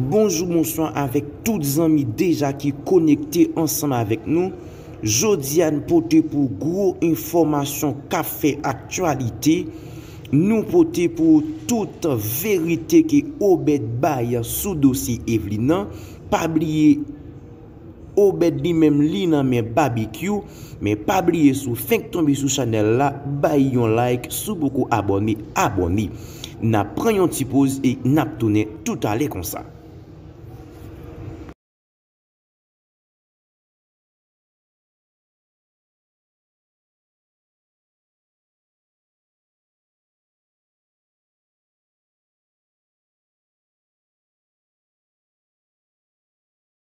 Bonjou bonswa avèk tout zanmi deja ki konekte ansanm avèk nou, jodi a n pote pou w gwo enfòmasyon k ap fè aktyalite, nou pote pou w tout verite ke Obed bay sou dosye Evelyne nan, pa bliye. Obed li menm li nan men babekyou men pa bliye sou fenk tonbe sou chanel la bay yon like sou poko abòne abòne nap pran yon ti poz e nap tounen toutale konsa.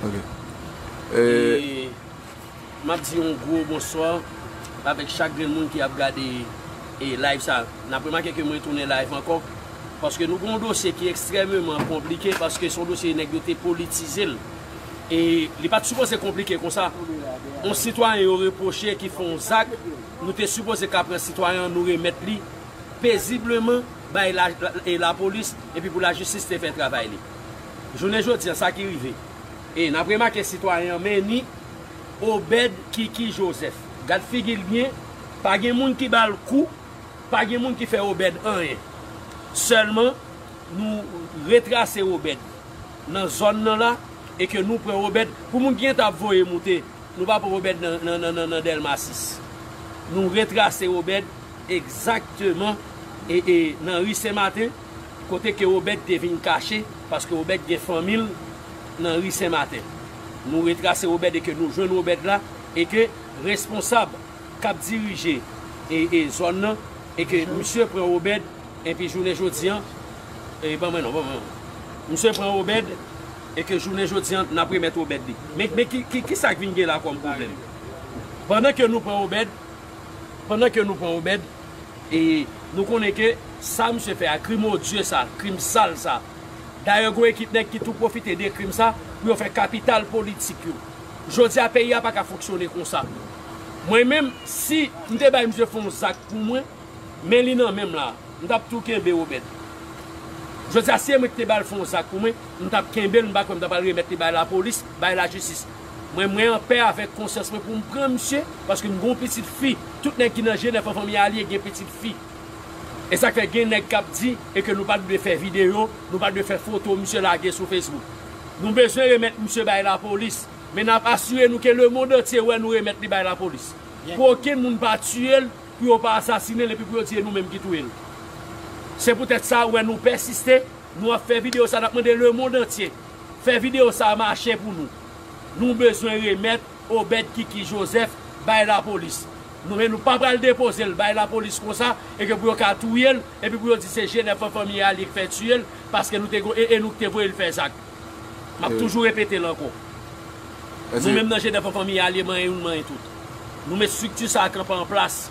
Ok. E m ap di yon gwo bonswa avèk chak grenn moun ki ap gade live sa. N ap remake ke mwen tounen live ankò paske nou gen yon dosye ki ekstrèmeman konplike paske se yon dosye nèg yo te politize l. E li pa t sipoze konplike konsa. Yon sitwayen yo repwoche ki fè yon zak, nou te sipoze ka pran sitwayen an nou remèt li pezibleman bay lapolis epi pou lajistis te fè travay li. Jounen jodi an, sa ki rive? E, n ap remake sitwayen an menni Obed Kiki Joseph. Gad figi l byen, pa gen moun ki ba l kou, pa gen moun ki fè Obed anyen. Sèlman, nou retrase Obed nan zòn nan la e ke nou pran Obed, pou moun ki gentan ap voye moute, nou pa pran Obed nan Dèlma 6. Nou retrase Obed egzakteman nan ri Sen Maten. Kote ke Obed te vin kache, paske Obed gen fanmi l nan ri Sen Maten. Nou retrase Obed e ke nou jwenn Obed la, e ke responsab k ap dirije e zòn nan, e ke misye pran Obed, enpi jounen jodi an, e ban mwen non, ban mwen non. Misye pran Obed, e ke jounen jodi an, n ap remèt Obed li. Men, men ki, ki sa k vin gen la kòm pwoblèm? Pandan ke nou pran Obed, pandan ke nou pran Obed. E nou konnen ke sa misye fè a, krim odye sa, krim sal sa. Dayè gon ekip nèg ki tou pwofite de krim sa pou yo fè kapital politik yo. Jodi a peyi a pa ka fonksyone konsa. Mwen menm, si m te bay misye fon zak pou mwen, men li nan men m la, m t ap tou kenbe Robert. Jodi a si e mwen ki te ba l fon zak pou mwen, m t ap kenbe l, m pa kwè m t ap al remèt li bay lapolis, bay lajistis. Mwen mwen anpè avèk konsyans mwen poum pran misye paske m gon pitit fi tout nèg ki nan je 9 an fanmi alie gen pitit fi esak fè gen nèg kap di e ke nou pat dwe fè video nou pat dwe fè foto misye lage sou facebook nou bezwen remèt misye bay lapolis men nap asire nou ke lemond antye wè nou remèt li bay lapolis pou okenn moun pa tiyel pou yo pa asasinel epi pou yo di e nou menm ki touyel se pou tèt sa ou wè nou pèsiste. Nou ap fè video sa nap mande le monde entier fè video sa mache pou nou nou bezwen remèt Obed kiki Joseph bay la police nou men nou pa pral depozel bay la police konsa e ke pou yo ka touyel e pi pou yo di se Genève an fanmi a li k fè tiyel paske nou te gon e e nou k te voyel fè zak map toujou repetel ankò nou menm nan Genève an fanmi a li manyen youn manyen tout nou met structure sa kanpe an plas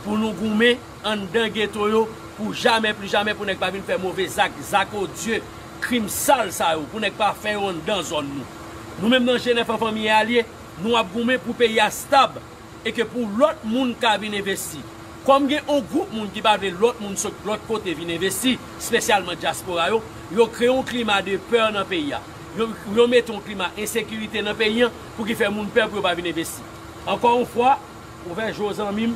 pou nou goumen. Anndan geto yo pou jamè pli jamè pou nèg pa vin fè move zak, zak odye, krim sal sa yo pou nèg pa fè yo anndan zòn nou. Nou menm nan jenèf an fanmi e alye, nou ap goumen pou peyi a stab e ke pou lòt moun ka vin envesti. Kòm gen on gwoup moun ki pa vle lòt moun sot lòt kote vin envesti, spesyalman dyaspora yo, yo kreye on klima de peur nan peyi a. Yo yo mete on klima ensekirite nan peyi an pou ki fè moun pè pou yo pa vin envesti. Ankò on fwa, Ouvè je w zanmim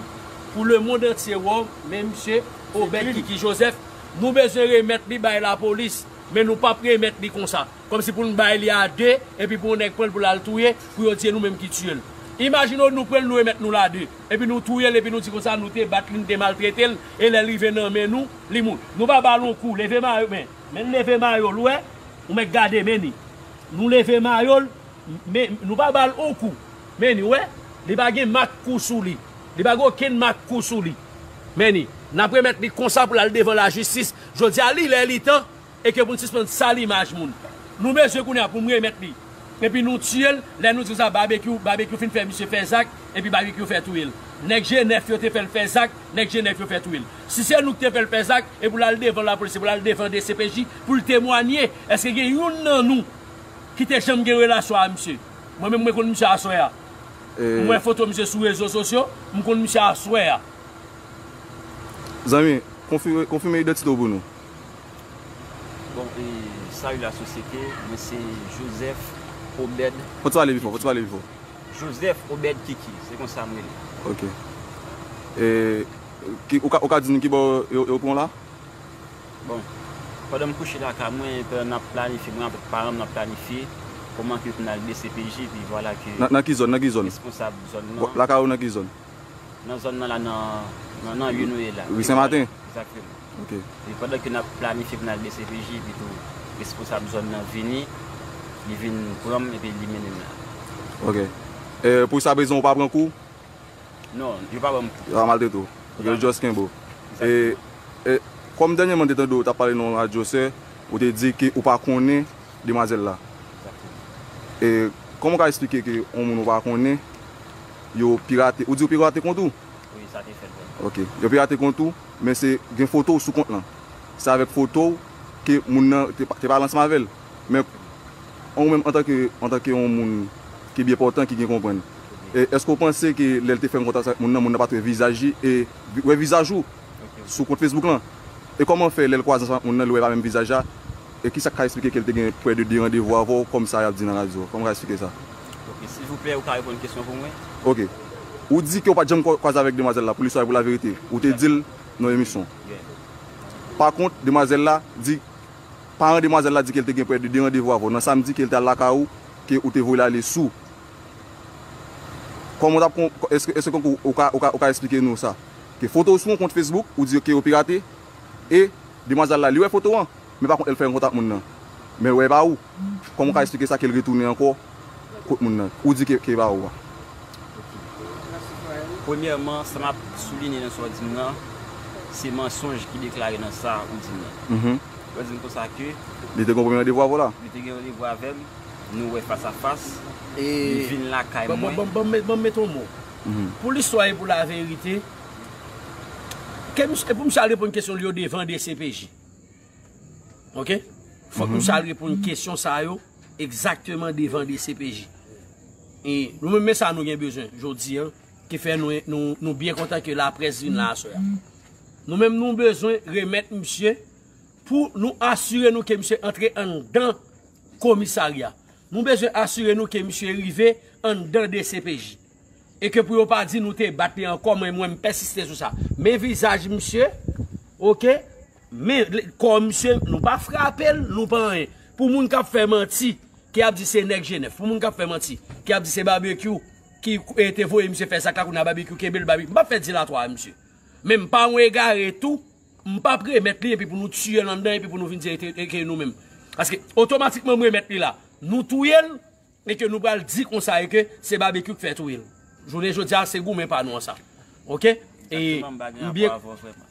pou le mond antye wè w men misye Obed Kiki Joseph nou bezwen remèt li bay lapolis men nou pap remèt li konsa kòmsi pou n bay li a 2 epi pou yon nèg pran l pou l al touye pou yo di e nou menm ki tiye l imajine w nou pran l nou remèt nou l a 2 epi nou touye l epi nou di konsa nou te bat li nou te maltrete l e lè l rive nan men nou li mou nou pa ba l yon kou leve mayo men men leve mayo l wè ou mèt gade men ni nou leve mayo l Men nou pa bal on kou. Men ni wè, li pa gen mak kou sou li. Li pa gen okenn mak kou sou li. Men ni, n ap remèt li konsa pou l al devan lajistis. Jodi a, li lè li tan e ke pou n sispann sal imaj moun. Nou bezwen kounye a pou m remèt li. Epi nou tiye l, lè nou di konsa Babekyou, Babekyou fin fè misye fè zak, epi Babekyou fè touye l. Nèg je nèf yo te fè l fè zak, nèg je nèf yo fè touye l. Si se nou ki te fè l fè zak, e pou l al devan lapolis, e pou l al devan dcpj pou l temwanye, èske gen youn nan nou, Ki te janm gen relasyon a misye. Mwen menm mwen konn misye aswè a. M wè foto misye sou rezo sosyo, m konn misye aswè a. Zanmi, konfime idantite w pou nou. Bon, salut la société, mwen se Joseph Obed Kiki. Fò w pale pi fò, fò w pale pi fò. Joseph Obed Kiki, se konsa m rele. Ok. Ou ka di nou ki bò yo pran w la? Bon, pandan m kouche lakay mwen, pandan n ap planifye, mwen avèk paran m n ap planifye kòman ke pou n al dcpj, epi vwala ke responsab zòn nan. Lakay ou nan ki zòn? Nan zòn nan la, nan nan rue nou ye la. Rue Senmaten? Egzakteman. Ok. Epi pandan ke n ap planifye pou n al dcpj, epi tou responsab zòn nan vini, li vin pran m epi li mennen m la. Ok. Pou sa bezwen ou pa pran kou? Non, yo pa banm kou. Yo pa maltrete w. Yo just kenbe w. E kòm dènyèman m te tande w tap pale nan yon radyo sè, ou te di ke ou pa konnen demwazèl la. E kòman w ka esplike ke yon moun ou pa konnen yo pirate, ou di yo pirate kont ou? Wi, sa te fèt vre. Ok. Yo pirate kont ou, men se gen foto w sou kont lan. Se avèk foto w ke moun nan te pale ansanm avè l. Men, ou menm antanke, antanke yon moun ki byen pòtan, ki byen konprann, èske ou panse ke lè l te fè yon kontak avèk moun nan, moun nan pa t wè vizaj li e wè vizaj ou sou kont Facebook lan? E kòman fè lè l kwaze ansanm ak moun nan, li wè pa menm vizaj la? E kisa k ka esplike ke l te gen prè de 2 randevou avè w, kòm sa y ap di nan radyo? Kòman w ka esplike sa? Ok, silvouplè, ou ka reponn kesyon pou mwen? Ok. Ou di ke ou pa t janm kwaze avèk demwazèl la, pou listwa e pou laverite. Ou te di l nan emisyon. Pakont, demwazèl la di Paran demwazèl la di ke l te gen prè de 2 randevou avè w nan samdi ke l te al lakay ou ke ou te voye l ale sou Kòman w t ap kon èske èske konkou ou ka ou ka ou ka esplike nou sa ke foto w sou yon kont Facebook ou di yo ke yo pirate e demwazèl la li wè foto an men pa kont lè l fè rankontre ak moun nan men l wè e pa ou Kòman w ka esplike sa ke l retounen ankò kot moun nan ou di ke ke ba ou a. Premyèman sa map soulinye nan sa ou dim nan se mansonj ki deklare nan sa ou dim nan. Ou dim konsa ke. Li te gen yon premye randevou avè w la? Li te gen randevou avè m, nou wè fas a fas, li vin lakay mwen. Bon bon bon met yon mo. Pou listwa e pou laverite, ke misye, e pou misye al reponn kesyon li yo devan dcpj. Ok fok nou sa reponn kesyon sa yo egzakteman devan dcpj e nou menm men sa nou gen bezwen jodi an ki fè nou byen kontan ke la près vin la aswè an nou menm nou bezwen remèt misye pou nou asire nou ke misye antre an dan komisarya nou bezwen asire nou ke misye rive an dan dcpj e ke pou yo pa di nou te bat li ankò mwen mwen m pèsiste sou sa men vizaj misye ok. Men kò misye nou pa frapel nou pa anyen pou moun kap fè manti ki ap di se nèg jenèf pou moun kap fè manti ki ap di se babekyou ki te voye misye fè zak la kounya babekyou kenbel babekyou m pap fè dilatwa a misye men m pa yon egare tou m pap remèt li epi pou nou tiyel anndan epi pou nou vin di ke nou menm paske otomatikman m remèt li la nou touyel E ke nou pral di konsa e ke se Babekyou k fè touye l. Jounen jodi a se goumen pa nou an sa. Ok. Exactement m pa gen rapò avè w vrèman.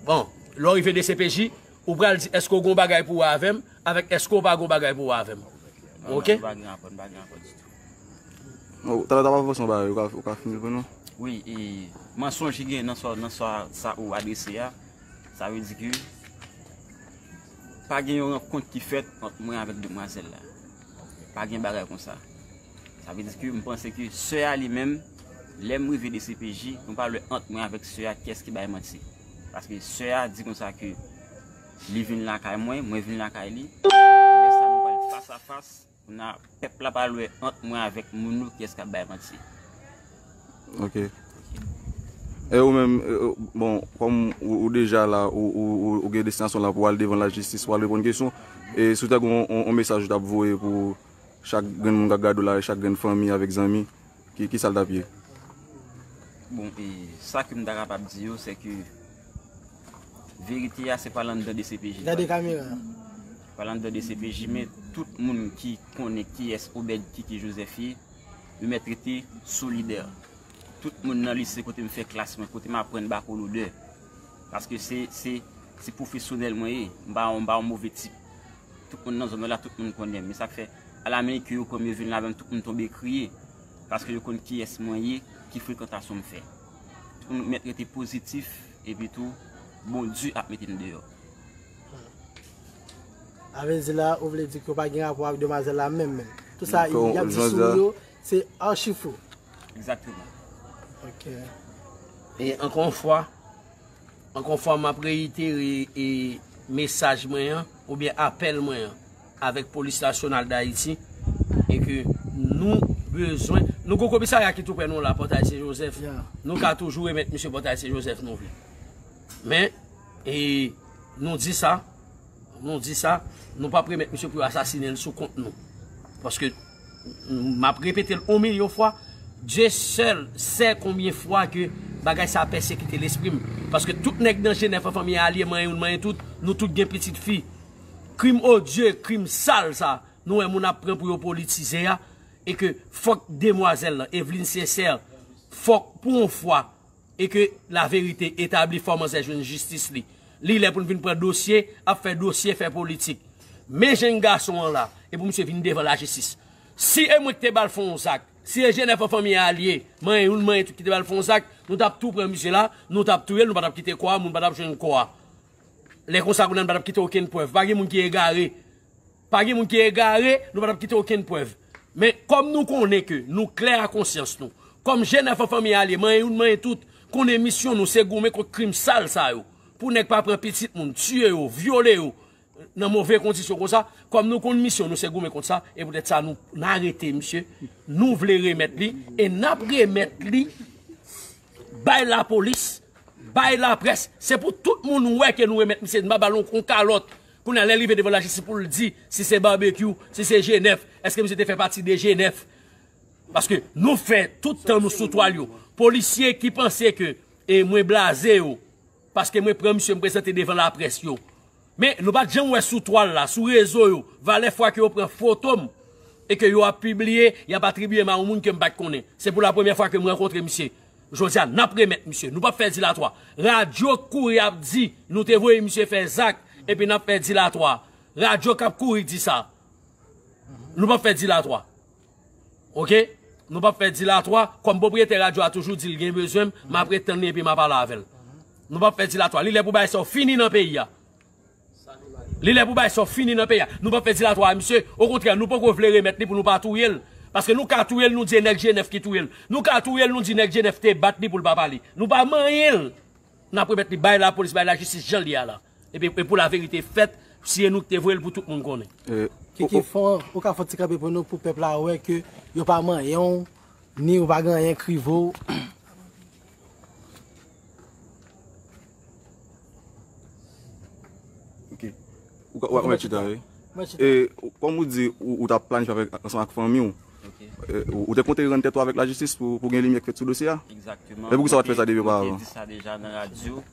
Bon, lè w rive dcpj, ou pral di èske w gen yon bagay pou wè avè m avèk èske w pa gen yon bagay pou wè avè m. Ok. M pa gen rapò, m pa gen rapò ditou. Ou ta kapab avanse yon bagay ou ka fini l pou nou? Wi, e mansonj ki gen nan sa ou adrese a, sa vle di ke pa gen yon rankont ki fèt ant mwen avèk demwazèl la. Pa gen bagay konsa. Sa vle di ke m panse ke sè a li menm, lè m rive dcpj, mwen pa wè ant mwen avèk sè a kyès ki bay manti. Paske sè a di konsa ke li vin lakay mwen, mwen vin lakay li, lè sa nou pral fas a fas, kounya pèp la pral wè ant mwen avèk moun yo kyès k ap bay manti. Ok. E ou menm, bon, kòm ou deja la, ou gen destinasyon la pou al devan lajistis, pou al reponn kesyon, e si w ta gen yon mesaj ou ta ap voye pou chak grenn moun k ap gade w la, e chak grenn fanmi avèk zanmi, ki sa l ta ap ye? Bon, e sa ke m ta kapab di yo, se ke verite a se pa lan dan dcpj. Gade kamera a. Pa lan dan dcpj, men tout moun ki konnen kiyès Obed Kiki Joseph ye, Yo mèt rete solidè. Tout moun nan lise kote m fè klas mwen, kote m aprann bako lodè. Paske se pwofesyonèl mwen ye. M pa yon move tip. Tout moun nan zòn mwen la, tout moun konnen m. E sa k fè, alamenike yo pran m, yo vin ladan m, tout moun tonbe kriye. Paske yo konn kiyès mwen ye, ki frekantasyon m fè. Tout moun mèt rete pozitif, epitou Bondye ap mete n deyò. Avèzi la ou vle di ke w pa gen rapò ak demwazèl la menm menm. Tout sa y ap di sou ou yo se achi fo. Egzakteman. Ok. E ankò yon fwa, ankò yon fwa m ap reyitere e mesaj mwen an oubyen apèl mwen an avèk polis nasyonal dayiti e ke nou bezwen, nou gen yon komisarya ki tou prè nou la, Pòtay Sen Jozèf, nou ka toujou remèt misye Pòtay Sen Jozèf nou vle. Men. E nou di sa, nou di sa, nou pa premèt misye pou yo asasine l sou kont nou. Paske, m ap repete l on milyon fwa, Dye sèl sè konbyen fwa ke bagay sa pèsekite lespri m. Paske tout nèg nan Jenèf an fanmi Alye manyen youn manyen tout, nou tout gen pitit fi. Krim odye, krim sal sa, nou wè moun ap pran pou yo politize a, e ke fòk demwazèl lan, Evelyne Sincère, fòk pou on fwa, e ke la verite etabli fò manzè jwenn jistis li li lè pou n vin pran dosye ap fè dosye fè politik men jèn gason an la e pou misye vin devan la jistis si e mwen ki te bal fon w zak si e jenèf an fanmi a liye manyen youn manyen tout ki te bal fon w zak nou tap tou pran misye la nou tap touye l nou pa tap kite kò a moun pa tap jwenn kò a lè konsa kounye a nou pa tap kite okenn prèv pa gen moun ki egare. Pa gen moun ki egare, nou pa t ap kite okenn prèv. Men, kòm nou konnen ke nou klè a konsyans nou, kòm jenn anfan fanmi a lye manyen youn manyen tout, konnen misyon nou se goumen kont krim sal sa yo, pou nèg pa pran pitit moun, tiye yo, vyole yo, nan move kondisyon konsa, kòm nou konn misyon nou se goumen kont sa, e poutèt sa nou arete misye, nou vle remèt li, e n ap remèt li bay lapolis, bay laprès, se pou tout moun wè ke nou remèt misye, n pa ba l yon kalòt, Kounye a lè l rive devan lajistis pou l di si se Barbecue, si se G9, eske misye te fè pati de G9? Paske nou fè tout tan nou sou twal yo. Polisye ki panse ke mwen blaze yo paske mwen pran misye m prezante devan laprès yo. Men nou pat janm wè sou twal la, sou rezo yo, valè fwa ke yo pran foto m e ke yo ap pibliye, y ap atribye m a yon moun ke m pat konnen. Se pou lapremyè fwa ke m rankontre misye. Jodia nap remèt misye nou pap fè dilatwa radio k kouri ap di nou te voye misye fè zak epi nap fè dilatwa radio kap kouri di sa nou pap fè dilatwa ok nou pap fè dilatwa kòm pwopriyetè radio a toujou dil gen bezwenm map ret tann li epi map ale avèl nou pap fè dilatwa li lè pou bagay sa yo fini nan peyi a Li lè pou bay sò fini nan peyi a. Nou pap fè dilatwa a misye. Okontrè nou poko vle remèt li pou nou pa touye l. Paske nou ka touye l nou di e nèg Jenèf ki touye l. Nou ka touye l nou di nèg Jenèf te bat li pou l pa pale. Nou pa manyen l. N ap remèt li bay lapolis, bay lajistis jan l ye a la. E pou laverite fèt, si e nou ki te voye l pou tout moun konnen. Kiki fò ou ka fè yon ti kanpe pou nou pou pèp la wè ke yo pa manyen w ni ou pa gen anyen k rive w. Ok, ou ka mèt chita vè. Mèt chita. E, kòm ou di, ou ta plani fè avèk, ansan ak fanmi ou. Ok. Ou te konte rann tèt ou avèk la jistis pou gen limyè k fèt sou dosye a? Ekzakteman. E poukisa ou pa t fè sa depi oparvan? Mwen te di sa deja nan radyo.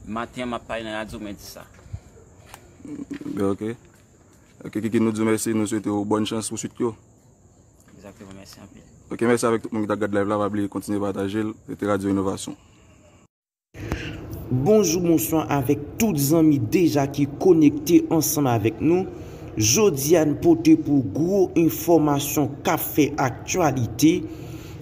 Maten an m ap pale nan radyo mwen di sa. Byen ok. Ok Kiki nou di w mèsi, nou swete w bòn chans pou swit yo. Ekzakteman, mèsi anpil. Ok, mèsi avèk tout moun ki t ap gad layv la. Pa bliye kontinye pataje l. Se te Radyo Inovasyon. Bonjou bonswa avèk tout zanmi deja ki konekte ansanm avèk nou, jodia n pote pou ou gwo enfòmasyon kap fè aktyalite,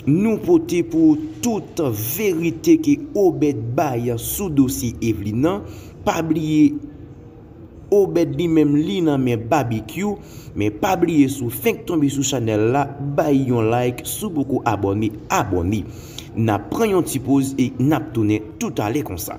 nou pote pou ou tout verite ke Obed bay sou dosye Evelyne nan, pa bliye. Obed li menm li nan men babekyou men pa bliye sou fenk tonbe sou chanel la bay yon like sou poko abòne abòne nap pran yon ti poz e nap tounen toutale konsa.